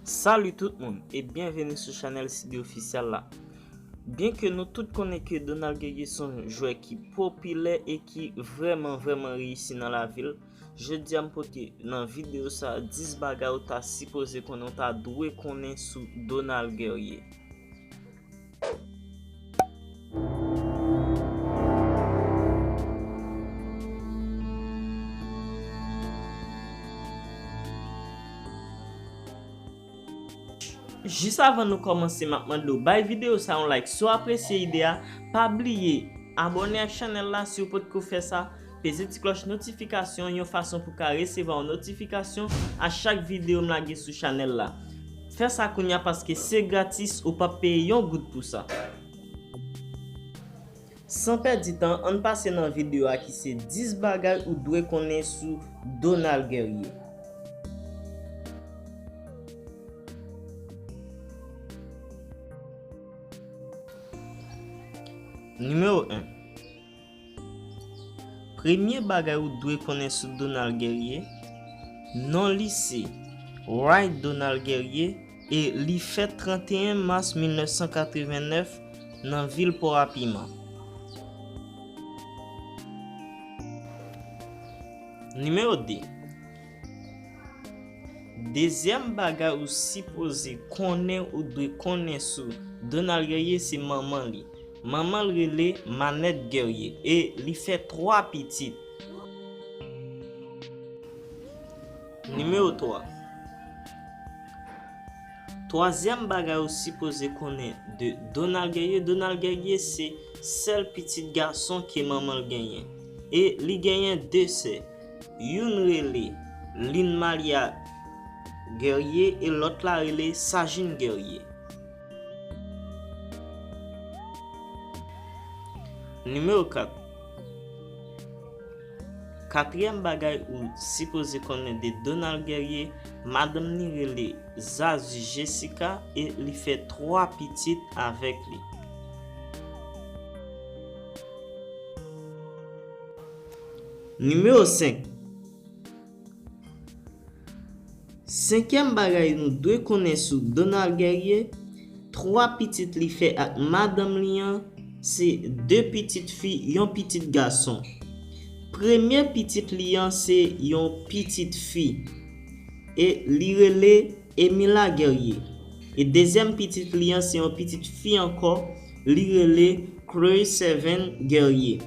Salut tout moun e byenveni sou chanel Sibi Ofisyal la Byenke nou tout konnen ke Donald Guegues son jwè ki popilè e ki vreman vreman reyisi nan lavil Jodi a m pote nan videyo sa 10 bagay ou ta sipoze konnen ou ta dwe konnen sou Donald Guerrier. Jis avan nou kòmanse m ap mande w bay videyo sa yon like si w apresye ide a, pa bliye Abòne ak chanèl la si w potko fè sa, Peze ti klòch notifikasyon an yon fason pou ka resevwa yon notifikasyon a chak videyo m lage sou chanèl la. Fè sa kounya paske se gratis ou pap peye yon goud pou sa. San pèdi tan ann pase nan videyo a ki se 10 bagay ou dwe konnen sou Donald Guerrier. Nimewo 1. Premye bagay ou dwe konnen sou Donald Guerrier, Non li se, Wright Donald Guerrier e li fèt 31 mas 1989 nan vil Port-à-Piment. Nimewo 2. Dezyèm bagay ou sipoze konnen ou dwe konnen sou Donald Guerrier se manman li. Manman l rele Manette Guerrier e li fè 3 pitit. Nimewo 3. Twazyèm bagay ou sipoze konnen de Donald Guerrier, Donald Guerrier se sèl pitit gason ke manman l genyen e li genyen 2 sè. Youn rele Lynn Malia Guerrier e lòt la rele Sajin Guerrier. Nimewo 4, Katriyèm bagay ou sipoze konnen de Donald Guerrier, madanm ni rele Zazu Jessica e li fè 3 pitit avèk li. Nimewo 5, Senkyèm bagay nou dwe konnen sou Donald Guerrier, 3 pitit li fè ak madanm li an, se 2 pitit fi, yon pitit gason. Premye pitit li an se yon pitit fi, e li rele Emila Guerrier. E dezyèm pitit li an se yon pitit fi ankò, li rele Chloe Sevin Guerrier.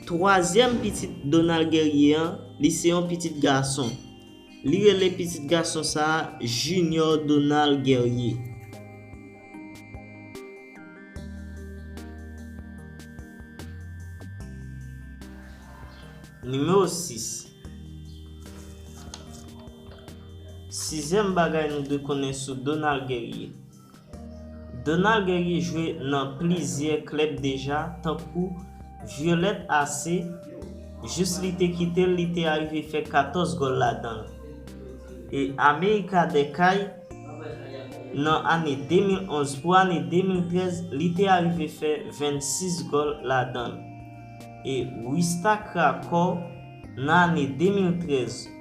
Twazyèm pitit Donald Guerrier an, li se yon pitit gason. Li rele pitit gason sa a Junior Donald Guerrier. Nimewo 6, Sizyèm bagay nou dwe konnen sou Donald Guerrier. Donald Guerrier jwe nan plizyè klèb deja tankou Violette AC, jis li te kite l li te arive fè 14 gòl ladan l, e America des Cayes nan ane 2011 pou ane 2013 li te arive fè 26 gòl ladan l, e Wistakrakor nan ane 2013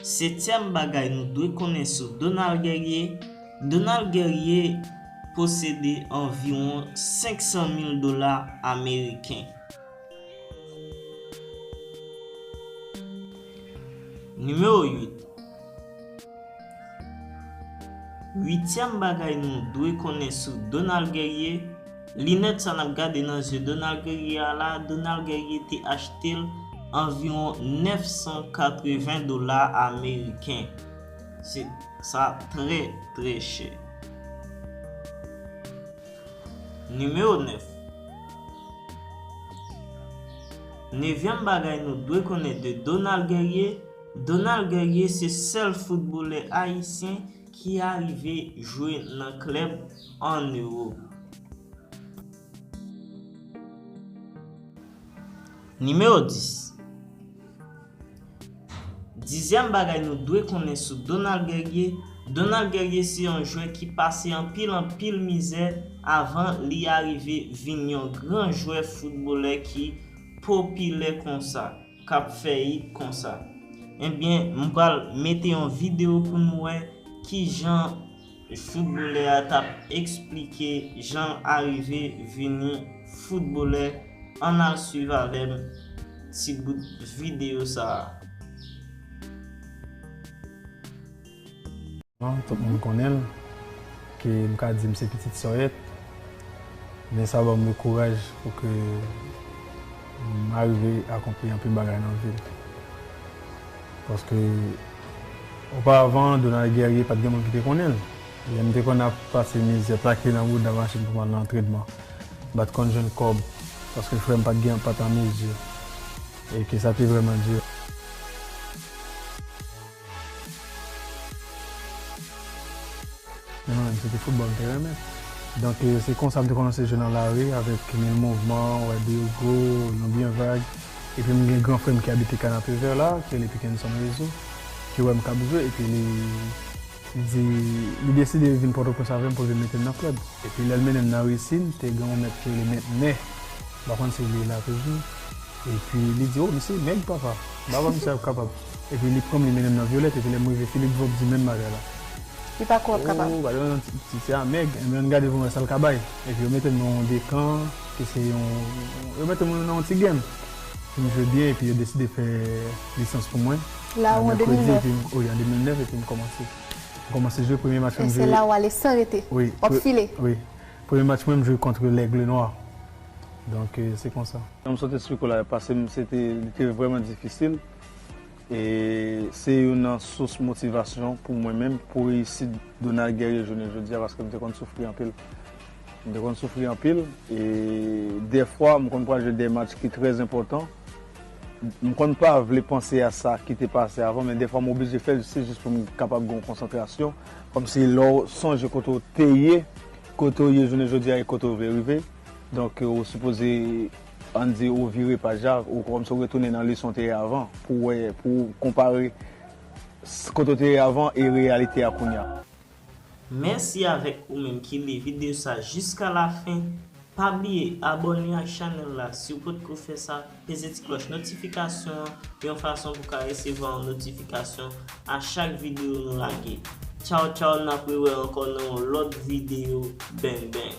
Setyèm bagay nou dwe konnen sou Donald Guerrier, Donald Guerrier posede anviwon 500 mil dola ameriken. Nimewo 8. Uityèm bagay nou dwe konnen sou Donald Guerrier, Linèt sa nap gade nan zye Donald Guerrier a la, Donald Guerrier te achte l anviwon 980 dola ameriken. Se sa trè trè chè. Nimewo 9. Nevyèm bagay nou dwe konnen de Donald Guerrier, Donald Guerrier se sèl foutbolè ayisyen ki arive jwe nan klèb an euro. Nimewo 10, Dizyèm bagay nou dwe konnen sou Donald Guerrier, Donald Guerrier se yon jwè ki pase anpil anpil mizè avan li arive vin yon gran jwè foutbolè ki popilè konsa, k ap fè it konsa. Ebyen m pral mete yon videyo pou nou wè kijan Footballè a tap esplike janl arive vini footballè ann al swiv avèm ti bout video sa. Tout moun konnen l, ke m ka di m se pitit sòyèt, men sa ban mwen kouraj pou ke m arive akonpli anpil bagay nan vi m. Paske oparavan Donald Guerrier pat gen moun ki te konnen l. Lè m te konn ap pase mizè, plake nan bouda machin pou m al nan antrenman, m pat konn jwenn kòb paske frè m pat gen pat an mezi e ke sa te vrèman di. Mwen menm se te foutbòl m te renmen. Donk se konsa m te kòmanse jwe nan lari avèk mil mouvman, wè Diogo, yon byen vag. Epi m gen gran frè m ki abite Kanapevè la, ki rele Pikenson Rezo, ki wè m k ap jwe epi li di, li deside vin Pòtoprens avè m pou l vin mete m nan klèb. Epi lè l mennen m nan Resin, te gen yon mèt ki rele Mèt Nè, m pa konn si li la toujou. Epi li di, o misye nèg papa, baba misye ap kapab. Epi li pranm li mennen m nan Violette epi lè m rive Philippe Vob di menm bagay la. Li pako ap kapab. Ooh gade yon ti ti ti a mèg enben ann gade pou m wè sa l ka bay. Epi yo mete m nan yon dekan ki se yon yo mete m nan yon ti game pou m jwe byen epi yo deside fè lisans pou mwen. La ou an 2009? Wi an 2009 epi m kòmanse. M kòmanse jwe premye match mwen m jwe. E se la ou ale san rete? Wi. W ap file? Wi. Premye match mwen m jwe kont L'Aigle Noir. Donk se konsa. Jan m sot esplike w la yo pase m se te li te vrèman difisil. E se youn nan sous motivasyon pou mwen menm, pou reyisit Donald Guerrier jounen jodi a paske m te konn soufri anpil. M te konn soufri anpil e dèfwa m konn pral jwe dè match ki trè enpòtan. M konn pa vle panse a sa ki te pase avan men dèfwa m oblije fè l se jis pou m kapab gen yon konsantrasyon. Kòmsi lè w sonje kote w te ye, kote w ye jounen jodi a e kote w vle rive donk ou sipoze. An di ou vire paj la, ou kòmsi ou retounen nan leson w te ye avan, pou w wè, pou w konpare kote w te ye avan e reyalite a kounya. Mèsi avèk ou menm ki li video sa jiska la fen, pa bliye abòne ak chanèl la siw potko fè sa, peze ti klòch notifikasyon an yon fason pou ka resevwa yon notifikasyon a chak video nou lage. Tchaw tchaw nap rewè ankò nan yon lòt video bang bang.